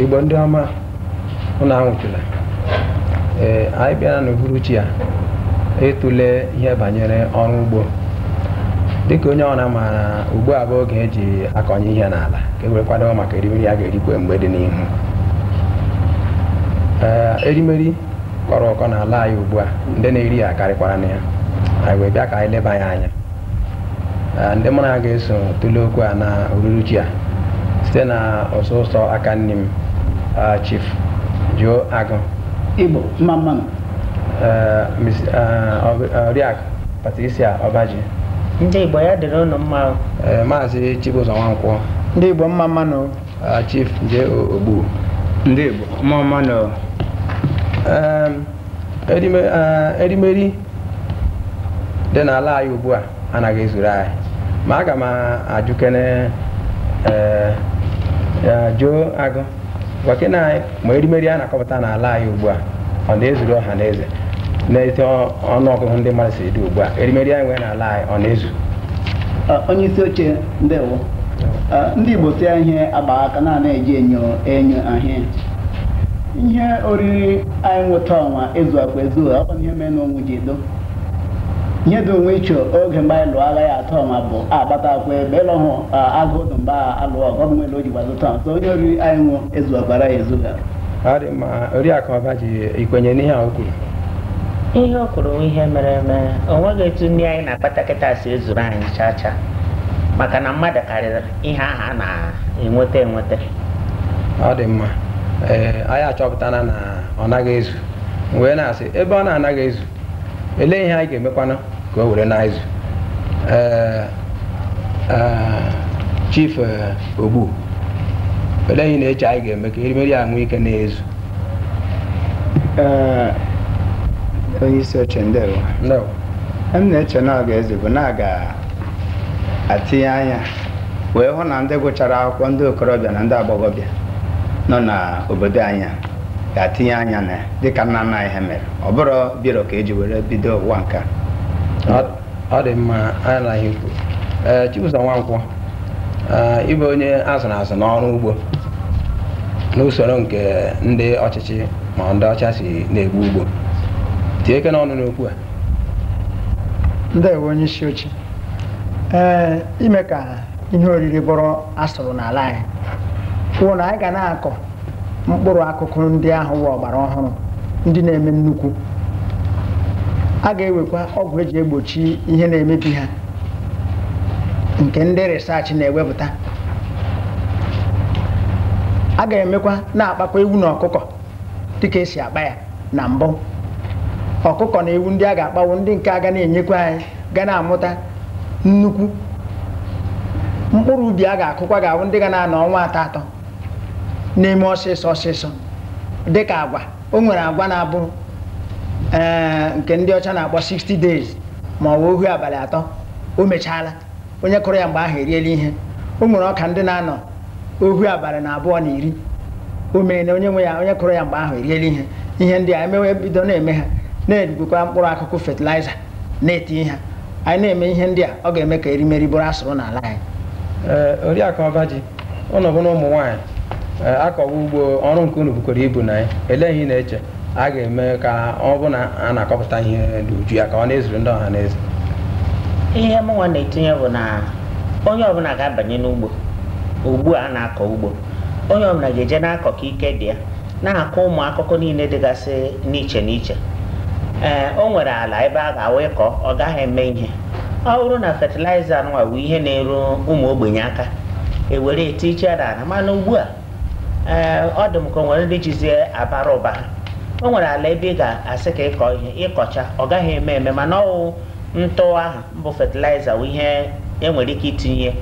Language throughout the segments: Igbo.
igbo ndị ọma ụnụ anwụchula ee anyị bịara n'uhuruchi a ịtụle ihe banyere ọrụ ugbo dịka onye ọbụna maara ugbu a bụ oge eji akọnye ihe n'ala ka e wee kwado maka erimeri a ga-erikwe mgbe dị n'ihu ee erimeri kọrọ ụkọ n'ala anyị ugbu a ndị na-eri ya karịkwara na ya anyị wee bịa ka anyị leba ya anya Ah, ndị mụ na ha ga-eso tụlee okwu a na ururuchi a site na ụsọ ụsọ aka nni m ah, chief joe agụ igbo mma mmanụ eh, Miss- eh, Ọ- eh, oriakụ patricia ọbaji ndị igbo ya dịrị ụnụ mma o. eh, maazị chibụzọ nwankwọ ndị igbo mma mmanụ o. ah, chief j ogbu ndị igbo mma mmanụ o. Em, erimeri dị n'ala anyị ugbu a anaghị ezuru anyị ma aga m ajụkene joe agụ gwakena anyị ma erimeri a na-akọpụta n'ala anyị ugbu a ọ na-ezuru ọha na eze n'etu ọnụọgụgụ ndị mmadụ si dị ugbu a erimeri anyị nwere n'ala anyị ọ na-ezu onye isi oche ndewo ndị Igbo sị ihe agba aka na anaghị eji enyo ahụ ya ihe oriri anyị nwe taa ọnwa ezuakwa ezu ọ bụ ihe mere na onwe ji edo ihe dị onwe iche oge mgbe anyị lụọ agha ya taa ọnwa bụ a gbatakwa ebe ịlụ hụ agụụ dị mgbe alụ ọgụ ọbụ nwere o ji gbazụta so ihe oriri anyị nwe ezuakwara ya ezu ga ọ dị mma oriakụ ọbaji i kwenye n'ihe a o kwuru ihe o kwuru bụ ihe mere eme o nweghị etu nri anyị na-akpata kịta si ezuru anyị chaa chaa maka na mmadụ karịrị ihe ahụ a na-enweta enweta ọ dị mma ee anyị achọpụtana na ọ naghị ezu M wee na-asị ebe ọ na-anaghị ezu elee ihe anyị ga-emekwanụ ka o were na-ezu ee ee, chief ee, ogbu olee ihe ị na-eche anyị ga-eme ka erimeri a nwee ike na-ezu Ee, onye isi oche ndewo ndewo m na-eche na ọ ga-ezu bụ na a ga atinye anya wee hụ na ndị gụchara akwụkwọ ndị okorobịa na ndị agbọghọbịa nọ n'obodo anyị ga-atinye anya na ya dịka nna nna anyị ha mere ọ bụrọ biro ka eji were bido ụwa nke a ọ dị mma anyị anụna ihe i kwuru ee Chibụzọ Nwankwọ ị bụ onye azụrụ azụ n'ọrụ ugbo n'usoro nke ndị ọchịchị ma ndị ọcha si na-egbu ugbo tinyekene ọnụ n'okwu a ndewo onye isi oche ee ime ka ihe oriri bụrụ asụrụ n'ala anyị wụ na anyị ga na-akọ mkpụrụ akụkụ ndị ahụ wụ ọgbara ọhụrụ ndị na-eme nnukwu a ga-ewekwa ọgwụ eji egbochi ihe na-emebi ha nke ndị research na-ewepụta a ga-emekwa na-akpakwa ewu na ọkụkọ dịka esi akpa ya na mbụ ọkụkọ na ewu ndị a ga-akpa wụ ndị nke a ga na-enyekwa anyị ga na-amụta nnukwu mkpụrụ ubi a ga-akụkwa ga-abụ ndị ga na-anọ ọnwa atọ atọ na-eme ọsịsọ ọsịsọ dịka agwa o nwere agwa na-abụ ee nke ndị ọcha na-akpọ 60 days ma ọ bụ ohu abalị atọ o mechaala onye kụrụ ya mgbe ahụ eriela ihe o nwere ọka ndị na-anọ ohu abalị na abụọ na iri o meena onye nwe ya onye kụrụ ya mgbe ahụ eriela ihe ihe ndị a e mewe bido na-eme ha na-erigokwa mkpụrụ akụkụ fatịlaịza na-eti ha anyị na-eme ihe ndị a ọ ga-eme ka erimeri bụrụ asụrụ n'ala anyị Ee, oriakụ ọbaji unu bụnụ ụmụ nwaanyị eh, a kọwa ugbo ọrụ nke unu bukwara ibu na ya elee ihe ị na-eche a ga-eme ka ọ bụ na a na-akọpụta ihe n'uju ya ka ọ na-ezuru ndị ọha na eze ihe mụnwa na-etinye bụ na onye ọbụla ga-abanye n'ugbo ugbu a na-akọ ugbo onye ọbụla ga-eje na-akọ ka ike dị ya na-akọ ụmụ akụkụ niile dịgasị n'iche n'iche ee o nwere ala ebe a gawa ịkọ ọ gaghị eme ihe ọ bụrụ na fatịlaịza nwa bụ ihe na-eru ụmụ ogbenye aka ewere etiche ya n'ala mana ugbu a ee ọ dị m ka o nwere ndị jizi ya abara ụba ha o nwere ala ebe ị ga-asị ka ị kọọ ihe ị kọchaa ọ gaghị eme eme mana ọ wụ ntụ ahụ bụ fatịlaịza bụ ihe enwere ike itinye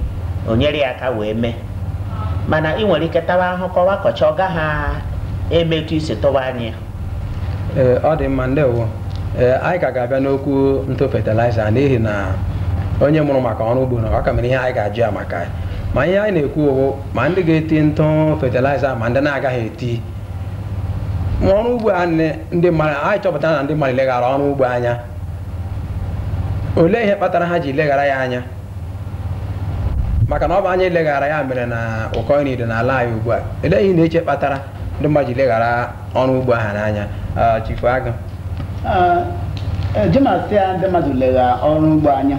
o nyere ya aka wee mee mana ị nwere ike tawa ahụ kọwa kọcha ọ gaghị eme etu i si tụwa anya ya ee ọ dị mma ndewo ee anyị ka ga-abịa n'okwu ntụ fatịlaịza n'ihi na onye mụrụ maka ọrụ ugbo nọ a ka nwere ihe anyị ga-ajụ ya maka ya ma ihe anyị na-ekwu ọ wụ ma ndị ga-eti ntụ fatịlaịza ma ndị na-agaghị eti ma ọrụ ugbo a nne- ndị mmadụ anyị chọpụtara na ndị mmadụ leghara ọrụ ugbo anya olee ihe kpatara ha ji leghara ya anya maka na ọ bụ anya e leghara ya mere na ụkọ nri dị n'ala anyị ugbu a olee ihe ị na-eche kpatara ndị mmadụ ji leghara ọrụ ugbo ahụ anya Ah, chifu agaghị m asị na ndị mmadụ leghara ọrụ ugbo anya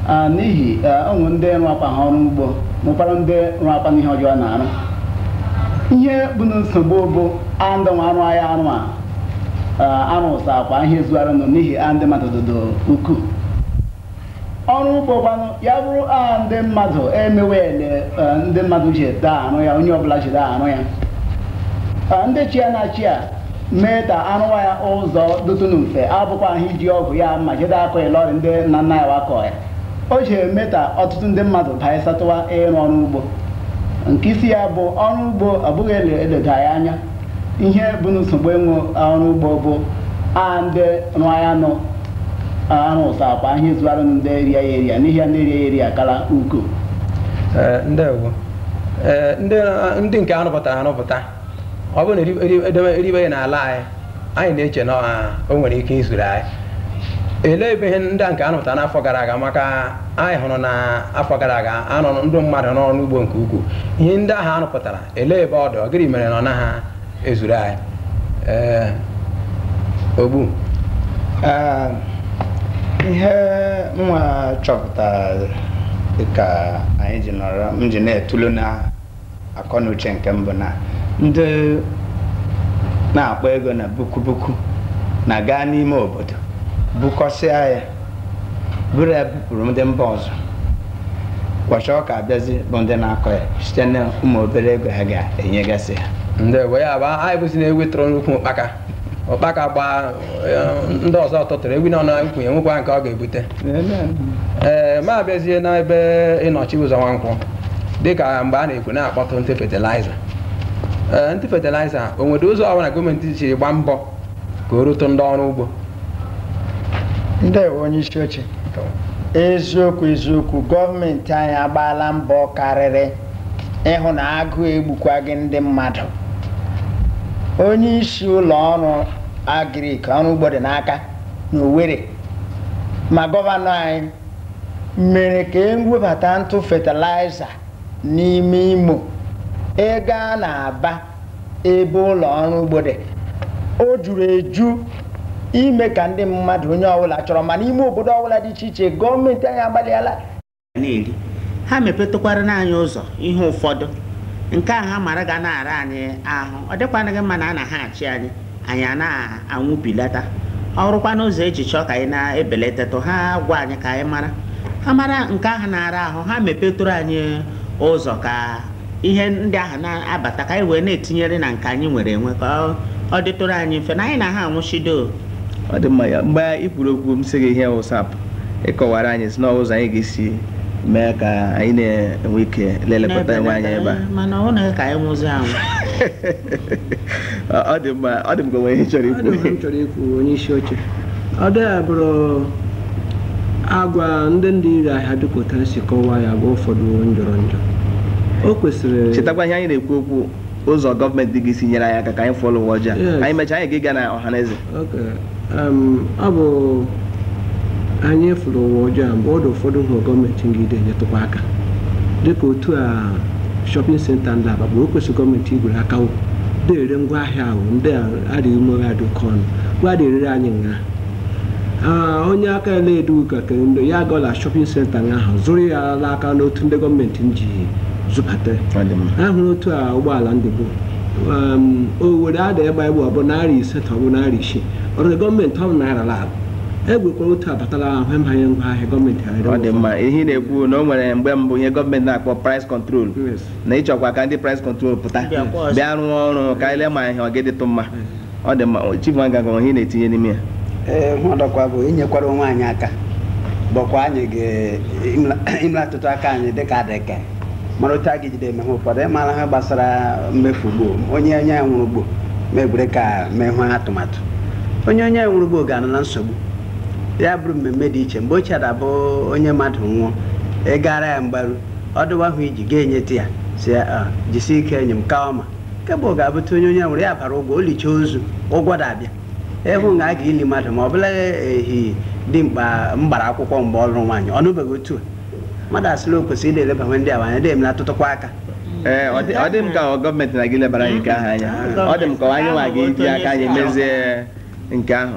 Ah, n'ihi eh, o nwe ndị rụ akwa ha ọrụ ugbo nwekwara ndị rụ akwa n'ihe ọjọọ na-arụ ihe bụ na nsogbu bụ andị nwa arụ ahịa arụ a ah, arụ ụsa akwa ihe zuara nọ n'ihi a ndị mmadụ dodo ukwuu ọrụ ugbo kwanụ ya bụrụ a ndị mmadụ emewe ele e, ndị mmadụ jide arụ ya onye ọbụla jide arụ ya e, ndị chi ya na-achị ya mee ka arụwa ya ụzọ dụtụnụ mfe abụkwahụ iji ọgụ ya mma jide akọ ya lọrị ndị nna nna anyị wa akọ ya o ji eme ka ọtụtụ ndị mmadụ baịsatụwa ịrụ ọrụ ugbo nke isi ya bụ ọrụ ugbo abụghị eleda ya anya ihe bụ nsogbu enwe ọrụ ugbo bụ a ndị rụọ ya nọ arụsakwa ihe ezuara ndị eri ya eri n'ihi ya ndị eri ya eri kara ukwuu Ee, ndewo Ee, ndị ndị nke arụpụtara arụpụta ọ bụrụ na eri- eri- edebe eribe ya n'ala anyị anyị na-eche na ọ- o nwere ike izuru anyị elee ebe ihe ndị a nke arụpụtara n'afọ gara aga maka anyị hụrụ na afọ gara aga anụrụ ndị mmadụ n'ọrụ ugbo nke ukwuu ihe ndị ahụ arụpụtara elee ebe ọ dị ọ gịnị mere na ọ naghị ezuru anyị ee Ogbu Ah, ihe mụwa chọpụtara dịka anyị ji nọrọ m ji na-etulu n'akọ na uche nke mbụ na ndị na-akpọ ego na buku buku na-aga n'ime obodo bukọsịa ya buru ya bupụrụ ndị mba ọzọ ụbọchị ọ ka abịazi bụ ndị na-akọ ya site na ụmụ obere ego ha ga-enyegasị ha ndewo ya bụ anyị bụzi na ewi tụrụ n'ukwu ụkpaka ụkpaka gbaa ndị ọzọ tụtụrụ ewi nọ n'ukwu ya nwekwa nke ọ ga-ebute ee ma abịazie n'ebe ịnọchi ụzọ nwankwụ dịka mgbe a na-ekwu na-akpọtụ ntụ fetiliza ee ntụ fetiliza o nwere ụzọ ọbụla gọọmenti ji gbaa mbọ ka o rute ndị ọrụ ugbo ndewo onye isi oche eziokwu eziokwu gọọmenti anyị agbaala mbọ karịrị ịhụ na agụụ egbukwaghị ndị mmadụ onye isi ụlọ ọrụ agrik ọrụ ugbo dị n'aka n'Owerri ma gọvanọ anyị mere ka e webata ntụ fatịlaịza n'ime Imo ego a na-aba ebe ụlọ ọrụ ugbo dị o juru eju ime ka ndị mmadụ onye ọbụla chọrọ ma n'ime obodo ọbụla dị iche iche gọọmenti anyị agbalịala na-eri ha mepetakwaranụ anyị ụzọ ihe ụfọdụ nke a ha mara ga na-ara anyị ahụ ọ dịkwanụghị mma na a na ha achị anyị anyị a na-anwụbilata ọ rụkwa n'ụzọ e ji chọọ ka anyị na-ebelatatụ ha gwa anyị ka anyị mara ha mara nke ahụ na-ara ahụ ha mepetụrụ anyị ụzọ ka ihe ndị ahụ na-abata ka anyị wee na-etinyere na nke anyị nwere enwe ka ọ- ọ dịtụrụ anyị mfe na anyị na ha anwụchido ọ dị mma ya mgbe i kwuru okwu m sị gị ihe wụsap ị kọwara anyị si n'ụzọ anyị ga-esi mee ka anyị na-enwe ike lelekọta onwe anyị ebe a mana ọ na ka anyị nwụzi anwụ Ọ dị mma, ọ dị m ka o nwe ihe ị chọrọ ikwu. m chọrọ ikwu onye isi oche ọ dịghị abụrụ agwa ndị na-ere ahịa dịka otu a si kọwaa ya bụ ụfọdụ njọrọ njọ o kwesịrị Chetakwa ihe anyị na-ekwu okwu ụzọ gọọmenti ga-esi nyere anyị aka ka anyị fụọ l'ụwa ọjọọ. Yes. Anyị mechaa anyị ga-ịga na ọhaneze. Okay. Um, ọ bụ anyị fụ l'ụwa ọjọọ a mgbe ọ dị ụfọdụ ihe gọọmenti ga-ịdị enyetụkwa aka dịka otu a shopping centre dị l'Aba bụ o kwesịrị gọọmenti igwere aka wo na-ere ngwa ahịa ahụ ndị a adịghị ume ha dị oke ọnụ gwa na-erere anyị nha Ah, onye aka ya na-edu ụka ka ndị ya gaa la shopping centre nga ahụ zụrụ ya n'aka n'otu ndị gọọmenti ji zụbata Ọ dị mma. ahụrụ otu a ụgbọala ndị bụ owere ada ịgba egbe ọ bụ narị ise ka ọ bụ narị isii ọrụ gọọmenti ọ naira lab egwekwara otu abatala ahụ emanye ngwa ahịa gọọmenti ọ dị mma ihe ị na-ekwu na o nwere mgbe mbụ ihe gọọmenti na-akpọ price control na ị chọkwa ka ndị price control pụta bịa rụọ ọrụ ka e lee ma ihe ọ ga-adịtụ mma ọ dị mma Chief Nwankwọ ihe na-etinye n'ime ya ee ọdọkwa bụ inyekwara onwe anyị aka bụkwa anyị ga-imelatụtụ aka anyị dịka adịka mara otu a ga ejide eme ha ụfọdụ omenala gbasara mmefu ugbo onye onye ya nwụrụ ugbo m were ka mee ihe atụmatụ onye onye ya nwụrụ ugbo ga-anọ na nsogbu ya bụrụ mmemme dị iche mgbe ochie ọ da-abụ onye mmadụ nwụọ ị gara ya mgbaru ọ dịwa ihe ị ji gaa enyetụ ya sị ya jisi ike enyi m ka ọma kebụ ga-abụta onye onye nwụrụ ya bara ụgwọ o licha ozu ụgwọ da-abịa ịhụ na a ga-eli mmadụ ma ọ bụla ehi dị mkpa mgbara akwụkwọ mgbe ọ lụrụ nwaanyị ọ nụbeghị otu a mmadụ asịla o kwesịrị ịdị elebawe ndị a anya dị emelatụtụkwa aka ee ọ dị- ọ dị m ka gọọmenti anaghị elebara anyị nke ahụ anya ọ dị m ka anyị nwa ga-eji aka anyị mezie nke ahụ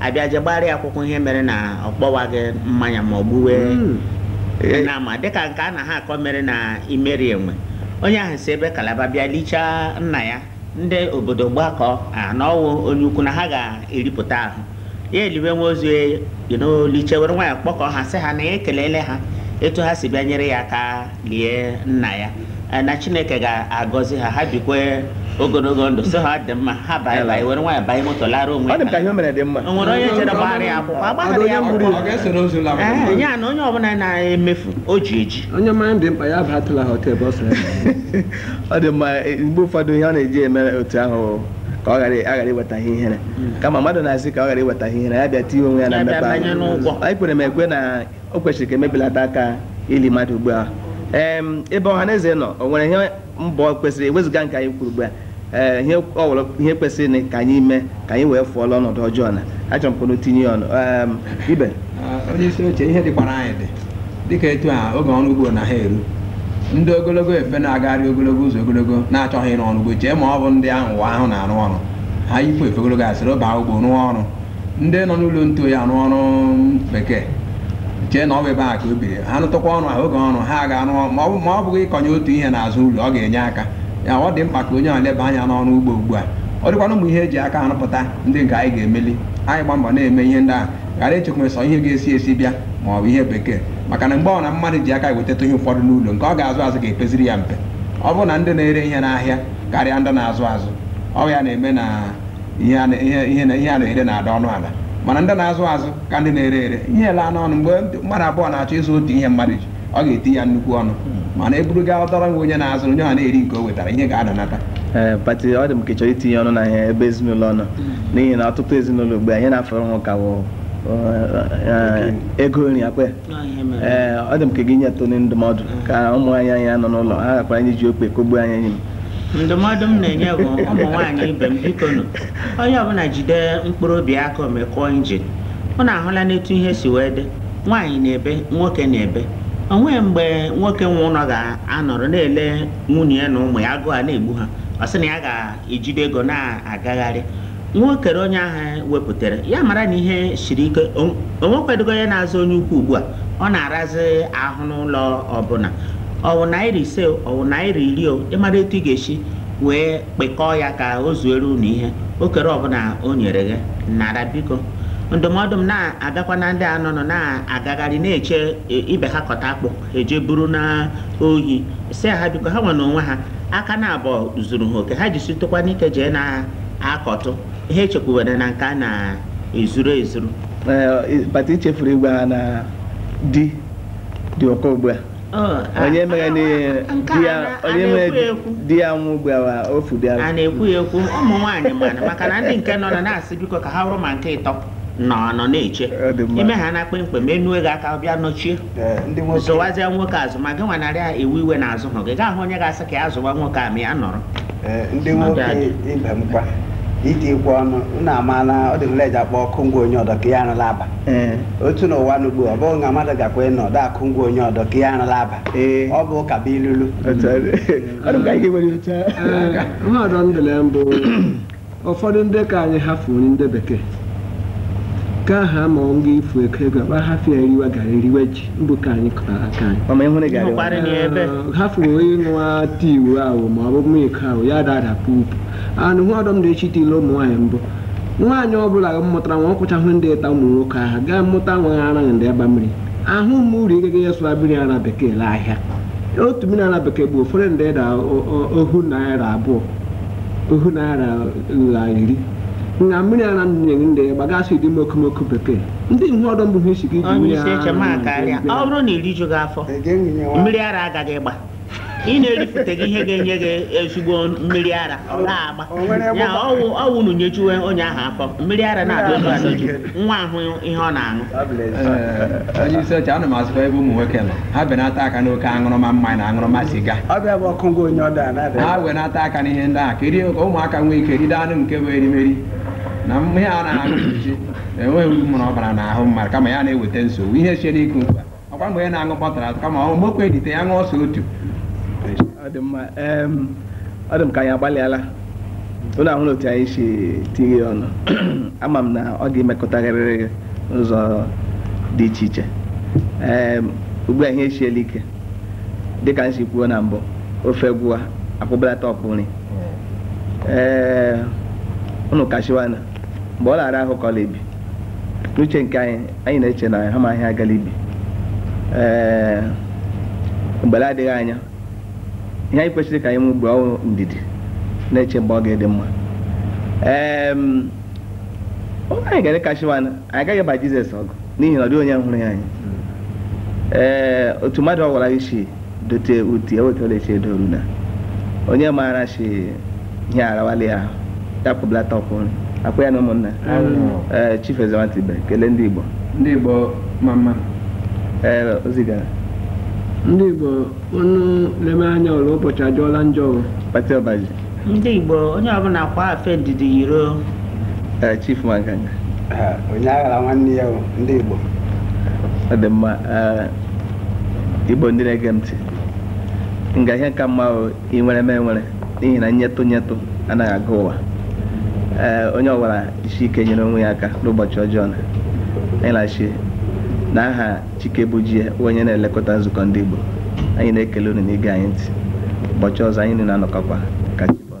a bịa je gbara ya akwụkwọ ihe mere na ọ kpọwaghị mmanya ma ọ gbuwe Mm. Eh, na ama dịka nke a na ha akọ mere na Imerienwe onye ahụ si ebe Calabar bịa lichaa nna ya ndị obodo gbakọọ na ọ wụ onye ukwu na ha ga-eripụta ahụ ya eliwe nwa ozu ya you know, lichaa were nwayọọ kpọkọọ ha sị ha na ya ekelele ha etu ha si bịa nyere ya aka lie nna ya eh, na chineke ga-agọzi ha ha bikwe ogologo ndụ sị ha dị mma ha banye banye were nwayọọ banye moto lara onwe ọ dị m ka ihe o mere dị mma o nwere onye jere gbara ya akwụkwọ agbaghara ya akwụkwọ eh, ya na onye ọbụla na-emefu o ji eji onye mmanya dị mkpa ya bata la hotel bọs ọ dị mma eh, mgbe ụfọdụ ihe ọ na-eji eme otu ahụ ka ọ ghara aghara iweta ihe ihere hmm. kama mmadụ na-asị ka ọ ghara iweta ihe ihere ya bịa tinye onwe ya na mmefu anyị kwere m ekwe na o kwesịrị ka emebilata aka ili mmadụ ugbu a Em, ebe ọha na eze nọ o nwere ihe mbọ kwesịrị ewezuga nke anyị kwuru ugbu a ee, ihe ọ wụrụ ihe kwesịrị na ka anyị mee ka anyị wee fụọ la ọnọdụ ọjọọ na achọrọ m ka unu tinye ya ọnụ Em, ibe onye isi oche ihe dịkwara anyị dị dịka etu a oge ọrụ ugbo na ha eru ndị ogologo efe na-agagharị ogologo ụzọ ogologo na-achọghị ịrụ ọrụ ugbo chee ma ọ bụ ndị ahụ ụwa ahụ na-arụ ọrụ ha yipụ efe ogologo asịrị baa ugbo rụọ ọrụ ndị nọ n'ụlọ ntụ oyi arụ ọrụ bekee chee na ọ bụ ebe a ka o biri ha rụtụkwa ọrụ ha oge ọrụ ha ga-arụ ọrụ ma ọ bụ- ma ọ bụghị ịkọnye otu ihe n'azụ ụlọ ọ ga-enye aka ya ọ dị mkpa ka onye ahụ leba anya n'ọrụ ugbo ugbu a ọ dịkwana ụmụ ihe eji aka arụpụta ndị nke anyị ga-emeli anyị gba mbọ na-eme ihe ndị ahụ ghara ichekwa sọ ihe ga-esi ezi bịa ma ọ bụ ihe bekee maka na mgbe ọ na mmadụ ji aka wetata ihe ụfọdụ n'ụlọ nke ọ ga-azụ azụ ga-epeziri ya mpe ọ bụrụ na ndị na-ere ihe n'ahịa karịa ndị na-azụ azụ ọ ya na-eme na ihe a na- ihe ihe na- ihe a na-ere na-ada ọnụ ala mana ndị na-azụ azụ ka ndị na-ere ere ihe alaanụ ọnụ mgbe ndị- mmadụ abụọ na-achọ ịzụ otu ihe mmadụ ji ọ ga-eti ya nnukwu ọnụ mana eburu gaa ọ tọrọ enwe onye na-azụ onye ọ na-eri nke o wetara ihe ga-adanata ee Pati ọ dị m ka ị chọrọ itinye ọnụ na ihe ebe ezinụlọ nọ n'ihi na ọtụtụ ezinụlọ ugbu a ihe na-afọrọ ha ka wụ ego nri akwe ee ọ dị m ka ị ga-enyetụnụ ndụmọdụ ka ụmụ nwaanyị anyị nọ n'ụlọ ha gakwara anyị ji ikpe kọgbuo anyị enyi m ndụmọdụ m na-enye bụ ụmụ nwaanyị ibe m bikonụ onye ọbụla jide mkpụrụ obi aka o mee kụọ engine unu ahụlanụ etu ihe si wee dị nwaanyị na-ebe nwoke na-ebe o nweghị mgbe nwoke nwe ụlọ ga-anọrọ na-ele nwunye ya na ụmụ ya agụụ a na-egbu ha ọ sị na ya ga-ejide ego na-agagharị nwa okere onye ahụ wepụtara ya mara na ihe siri ike o o nwekwadogo onye na-azụ onye ukwu ugbu a ọ na-arazi ahụ n'ụlọ ọbụla ọwụ naira ise o, ọwụ naira iri o ịmara etu ị ga-esi wee kpekọọ ya ka o zuere unu ihe okere ọbụla o nyere gị nara biko ndụmọdụ m na-agakwa na ndị a nọnụ na-agagharị na-eche e, ibe ha kọta akpụ e jee buru n'ohi sị ha biko ha nwe na onwe ha aka na abụọ zuru ha oke ha jisitụkwanụ ike jee na akọtụ ihe echekwubere na nke a na-ezuru ezuru Pati ị chefuru ịgwa ha na di dị ụkọ ugbu a onye mere di ya nwụọ ugbu a o fudịara a na-ekwu ya ekwu ụmụ nwaanyị mana maka na ndị nke nọ na-asị biko ka ha bụrụ ma nke ịtọ nọ nọ na-eche ime ha na kpemkpem enue gị aka bịa nọchie Ee, ndị nwoke zụwazie nwoke azụ ma gị nwa narị a ewe iwe na-azụ ahụ ị ga-ahụ onye ga-asị ka ya zụwa nwoke a ma ya nọrọ ee, ndị nwoke ibe m kwa itikwa ọnụ unu amaala ọ dị nleji akpọ ọkụ ngwa onye ọdọ ka ya arụla aba ee otu n'ụwa n'ugbu ọ bụghị na mmadụ gakwa ịnọdọ akụ ngwa onye ọdọ ka ya arụla aba Ee. ọ bụ ụka bụ ilulu otu ọ dị. Ọ dị m ka anyị ga-ewere otu a. Ee, mmadụ ndụle mbụ ụfọdụ ndị ka anyị hafụ nri ndị bekee ka ha ma ọ nga ifu ego ego akpa hafụ ya eriwe garị eriwe ji mbụ ka anyị kọtara aka anyị mama ịhụrụ garị Ịhụkwara- Karịrị ya ebe. hafụ ịṅụwa tii uwe ahụ ma ọ bụ milk ahụ ya dada pupu anụ ihe ọdọ m dị echi tile ụmụ nwaanyị mbụ nwaanyị ọ bụla mụtara nwa ọkwụchahụ ndị ịta ụmụ nwoke ahụ gaa mụta nwa ha araghị ndị aba mmiri ahụ ụmụ uru ịgaga ya zụra mmiri ara bekee la ahịa otu mmiri ara bekee bụ ụfọdụ ndị da ohu naira abụọ ohu naira la iri nga mmiri ara nne ndị gbagasị dị mokomoko bekee ndị ihe ọdọ bụ ha isi gị ji mmiri ara ọ bụrụ na irijughị afọ mmiri ara agaghị ịgba ị na-eripụtaghị ihe ga-enye gị ezigbo mmiri ara na-agba ya ọ wụ unu nyejuwe onye ahụ afọ mmiri ara na-adị otu adịju nwa ahụ ihe ọ na-aṅụ Ee, onye isi oche ana m asịkwa ebe ụmụ nwoke nọ ha benata aka n'oke aṅụrụma mmanya na aṅụrụma siga ọbịa bụ ọkụ ngwa onye ọda na-adị ha wenata aka n'ihe ndị ahụ ka erie ka ụmụaka nwee ike ride anụ nke bụ erimeri na ihe a na-aṅụ mkpuchi enweghị uru ọ bara n'ahụ mmadụ kama ya na-eweta nsogbu ihe esiela ike ugbu a ọ kwa mgbe na-aṅụ bottle atọ kama ọ mokwe edite ya ṅụọ sọ otu ọ dị mma ọ dị m ka anyị agbalịala unu ahụ otu anyị si tinye ya ọnụ ama m na ọ ga-emetụtarịrị gị n'ụzọ dị iche iche ee ugbu a ihe esiela ike dịka m si kwuo na mbụ ofe gwụwa a kpụbelata ọkpụ nri ee unu kashiwana mgbe ọ na-ara ahụ ka ọ na-ebi n'uche nke anyị anyị na-eche na ha ma ihe agala ibi ee mgbe la-adịghị anya ihe anyị kwesịrị ka anyị nwee ugbu a ọ wụ ndidi na-eche mgbe ọ ga-adị mma ee onye anyị ga-ere kashiwa anyị agaghị ịba jizọs ọgụ n'ihi na ọ dịghị onye hụrụ ya anya ee otu mmadụ ọ wụla si dote uti ewetala echi edoru na onye maara sị ihe arawala ya ahụ ya kpụbelata ọkpụ nri ọ kwa ya na ụmụnna ee chief ezewatibe kelee ndị igbo ndị igbo ma mma ee ozi gara ndị igbo unu leme anya ụlọ ụbọchị ajọọla njọ o pati ọbaji ndị Igbo onye ọbụla kwaa afe ndidi yiri eh, Chief Mankanga eh, onye aghala nwanne ya ndị Igbo ọ dị mma eh, Igbo ndị na-ege m ntị nga ihe ka mma ị nwere m enwere n'ihi na nyetụ nyetụ anaghị aga ụwa ee onye ọ wụla jisie ike nyere onwe ya aka n'ụbọchị ọjọọ na ịlachi n'aha Chikebujie bụ onye na-elekọta nzukọ ndị Igbo anyị na-ekele unu n'ige anyị ntị ụbọchị ọzọ anyị niile anọkọkwa ka chi bọọ.